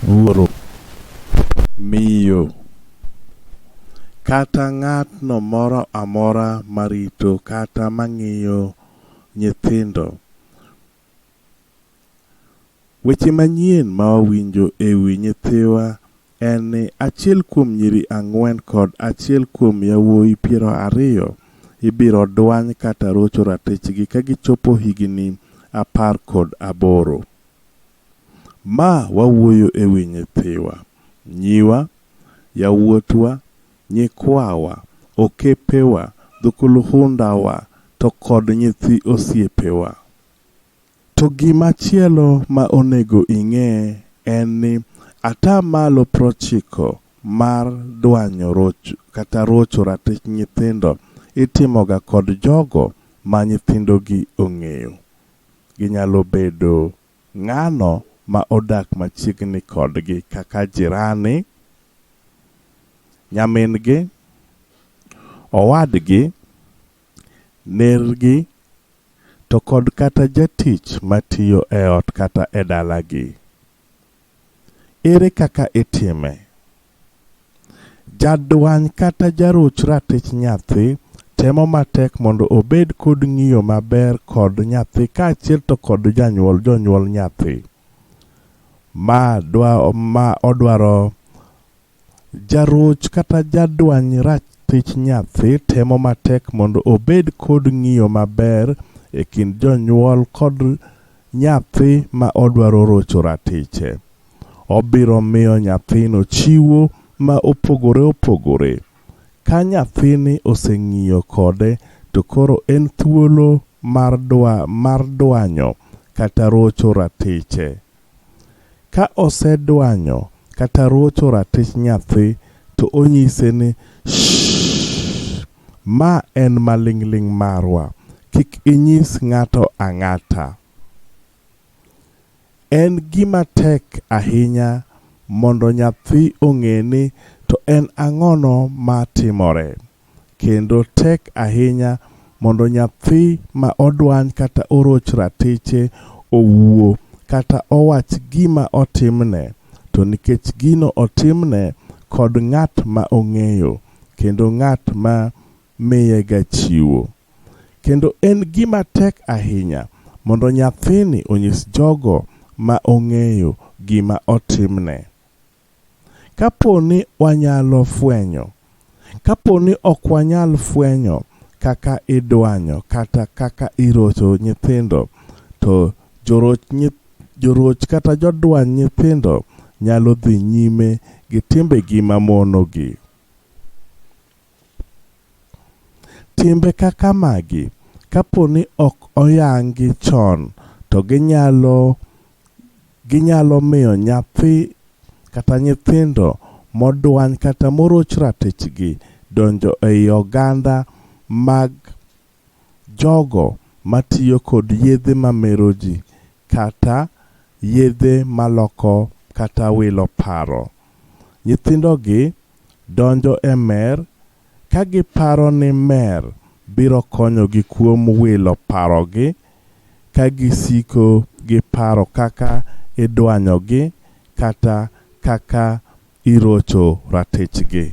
wuoro, miyo, kata ng'atno moro amora marito kata mang'iyo nyithindo. Weche manyien ma wawinjo e wi nyithiwa en ni achiel kuom nyiri ang'wen kod achiel kuom yawuoyi piero ariyo ibiro dwany kata rocho ratichgi ka gichopo higini apar kod aboro. Ma wawuoyo e wi nyithiwa, nyiwa, yawuotwa, nyikwawa, okepewa, dhukuluhundawa, to kod nyithi osiepewa. To gima chielo ma onego ing'e en ni ata malo prochiko mar dwanyo rocho kata rocho ratich nyithindo itimoga kod jogo ma nyithindogi ong'eyo. Ginyalo bedo ng'ano ma odak machiegni kodgi kaka jirani, nyamin-gi, owadgi, nergi, to kod kata jatich matiyo e ot kata e dalagi. Ere kaka itime? Jadwany kata jaruch ratich nyathi temo matek mondo obed kod ng'iyo maber kod nyathi kaachiel to kod janyuol jonyuol nyathi. Ma dwa ma odwaro Jaroch kata jadwany ratich nyathi temo matek mondo obed kod ng'iyo maber e kind jonyuol kod nyathi ma odwaro rocho ratiche. Obiro miyo nyathino chiwo ma opogore opogore. Ka nyathini oseng'iyo kode to koro en thuolo mar dwanyo kata rocho ratiche. Ka osedwanyo kata ruocho ratich nyathi to onyise ni, Shh! Ma en maling'ling' marwa, kik inyis ng'ato ang'ata. En gima tek ahinya mondo nyathi ong'e ni to en ang'ono ma timore. kendo tek ahinya mondo nyathi ma odwany kata oroch ratiche owuo kata owach gima otimne, to nikech gino otimne kod ng'at ma ong'eyo kendo ng'at ma miyega chiwo. Kendo en gima tek ahinya mondo nyathini onyis jogo ma ong'eyo gima otimne. Kapo ni wanyalo fwenyo. Kapo ni ok wanyal fwenyo kaka idwanyo kata kaka irocho nyithindo, to joroch kata jodwany nyithindo nyalo dhi nyime gi timbegi mamonogi. Timbe kaka magi kapo ni ok oyangi chon to ginyalo ginyalo miyo nyathi kata nyithindo modwany kata moroch ratichgi donjo ei oganda mag jogo matiyo kod yedhe mamero ji kata yedhe maloko kata wilo paro. Nyithindogi donjo e mer ka giparo ni mer biro konyogi kuom wilo parogi ka gisiko gi paro kaka idwanyogi kata kaka irocho ratichgi.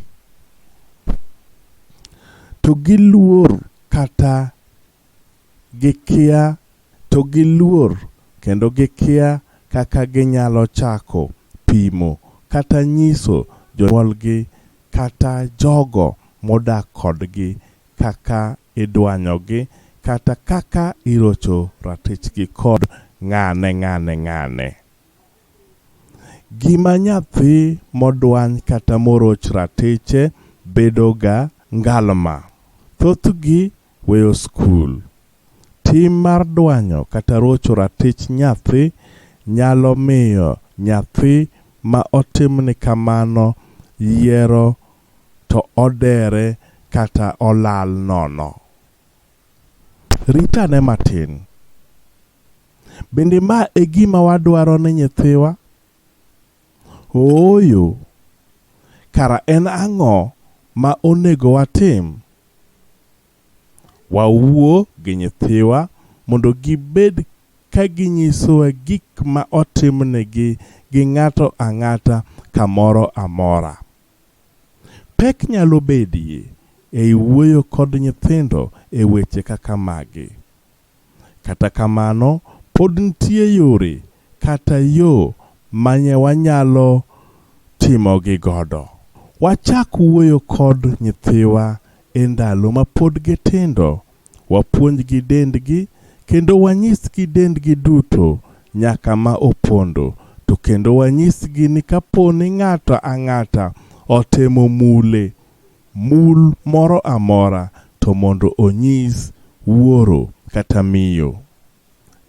To giluor kata Gikia to giluor kendo gikia kaka ginyalo chako pimo kata nyiso jonyuolgi kata jogo modak kodgi kaka idwanyogi kata kaka irocho ratichgi kod ng'ane ng'ane ng'ane. Gima nyathi modwany kata moroch ratiche bedoga ngalma. Thothgi Weyo Skul. Tim mar dwanyo kata rocho ratich nyathi nyalo miyo nyathi ma otimni kamano yiero to odere kata olal nono. Rit ane matin. Bende ma e gima wadwaro ne nyithiwa? Ooyo. Kara en ang'o ma onego watim? Wawuo gi nyithiwa mondo gibed ka ginyisowa gik ma otimnegi gi ng'ato ang'ata kamoro amora. Pek nyalo bedie ei wuoyo kod nyithindo e weche kaka magi. Kata kamano, pod nitie yore kata yo manye wanyalo timogi godo. Wachak wuoyo kod nyithiwa e ndalo ma pod gitindo, wapuonjgi dendgi kendo wanyisgi dendgi duto nyaka ma opondo, to kendo wanyisgi ni kaponi ng'ato ang'ata otemo mule Mul moro amora to mondo onyis wuoro kata miyo.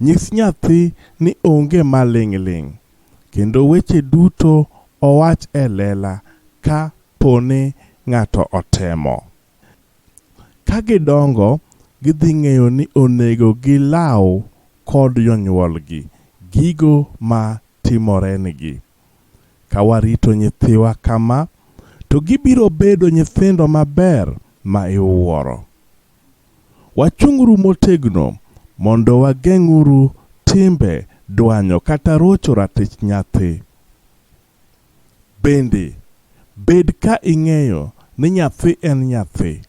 Nyis nyathi ni onge maling' ling' kendo weche duto owach e lela ka po ni ng'ato otemo. Ka gidongo, gidhi ng'eyo ni onego gilaw kod jonyuolgi gigo ma timorenigi. Ka warito nyithiwa kama, to gibiro bedo nyithindo maber ma iwuoro. Wachung'uru motegno mondo wageng'uru timbe dwanyo kata rocho ratich nyathi. Bende, bed ka ing'eyo ni nyathi en nyathi.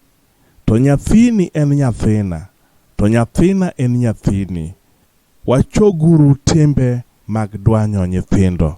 To nyathini en nyathina, to nyathina en nyathini. Wachoguru timbe mag dwanyo nyithindo.